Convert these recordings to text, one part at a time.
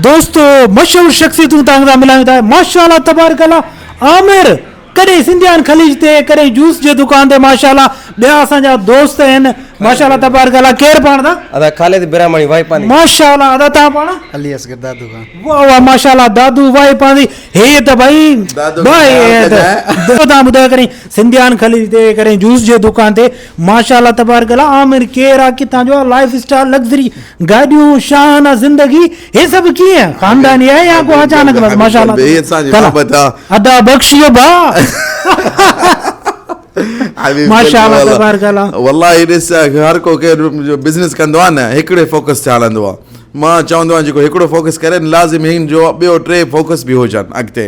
دوستو مشهور شخصيتون توهان سان ملايون ٿا ماشاء الله تبارڪ الله عامر ڪڏهن سنڌيان خليج تي ڪڏهن جوس جي دڪان تي ماشاء الله ٻيا اسان جا دوست آهن ماشاء الله تبارڪ الله کير پاڻ دا ادا خالد براماڻي واهي پاندي ماشاء الله ادا تان پاڻ علي اصغر دادو خان واهه واهه ماشاء الله دادو واهي پاندي هي ته ڀائي دادو کي خيال ڪجانء. تان ٻڌايو ڪڏهن سنڌيان خليج تي ڪڏهن جوس جي دڪان تي ماشاء الله تبارڪ الله عامر ڪير آ ڪتان جو آ لائف اسٽائل لگزري گاڏيون شاهانه زندگي هي سڀ ڪيئن خانداني آهي يا ڪو اچانڪ بس ماشاء الله ادا بخشي با ماشاء الله تبارڪ الله والله ڏس هر ڪو ڪير جو بزنس ڪندو آ نه هڪڙي فوڪس تي هلندو آ مان چوندو آهيان جيڪو هڪڙو فوڪس ڪري لازم هين جو ٻيو ٽي فوڪس به هجن اڳتي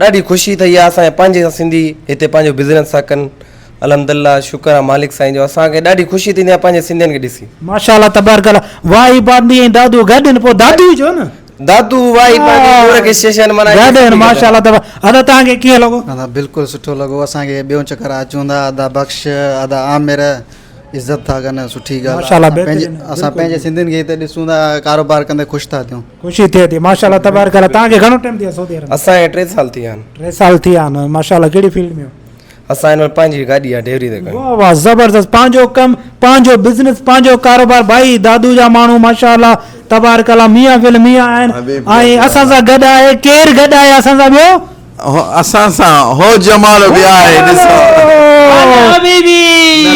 ڏاڍي خوشي ٿئي آ اسان کي پنهنجي سنڌي هتي پنهنجو بزنس ٿا ڪن الحمدالله شڪر آ مالڪ سائين جو اسان کي ڏاڍي خوشي ٿيندي آ پنهنجي سنڌين کي ڏسي. ماشاءالله تبارڪ الله واهي باندي ۽ دادو گڏ ان پوء دادو جو نه. دادو واهي باندي گور کي شيشن منا ڪي گڏ ان ماشاءالله تبارڪ ادا تان کي ڪيئن لڳو. ادا بلڪل سٺو لڳو اسان کي ٻيون چڪر آ اچون ٿا ادا بخش ادا عامر عزت ٿا ڪن سٺي ڳالهه آ اسان پنهنجي سنڌين کي هتي ڏسون ٿا ڪاروبار ڪندي خوش ٿا ٿيون. خوشي ٿئي ٿي ماشاء الله تبارڪ الله تان کي گھڻو ٽائم ٿي سعودي عرب اسان کي ٽي سال ٿي آن ٽي سال ٿي آن ماشاء الله ڪهڙي فيلڊ ۾ اسان هن وقت پنهنجي گاڏي آ ڊيوري تي واهه واهه زبردست پنهنجو ڪم پنهنجو بزنس پنهنجو ڪاروبار ڀائي دادو جا ماڻهو ماشاء الله تبارڪ الله ميان فل ميان آهن ۽ اسان سان گڏ آهي ڪير گڏ آهي اسان سان ٻيو اسان سان هو جمال به آهي ڏسو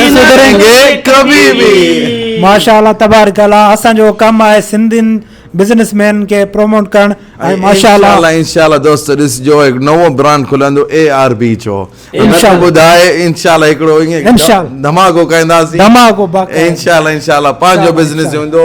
نسدرينگي ڪبي بي. ماشا الله تبارڪ الله اسان جو ڪم آهي سنڌين بزنس مين کي پروموٽ ڪرڻ ۽ ماشا الله انشاءالله انشاءالله دوستو ڏسجو هڪ نئون برانڊ کلندو اي آر بي جو انشاءالله ٻڌائي انشاءالله هڪڙو ايئن ڌماڪو ڪنداسين ڌماڪو باقاعده انشاءالله انشاءالله پنهنجو بزنس هوندو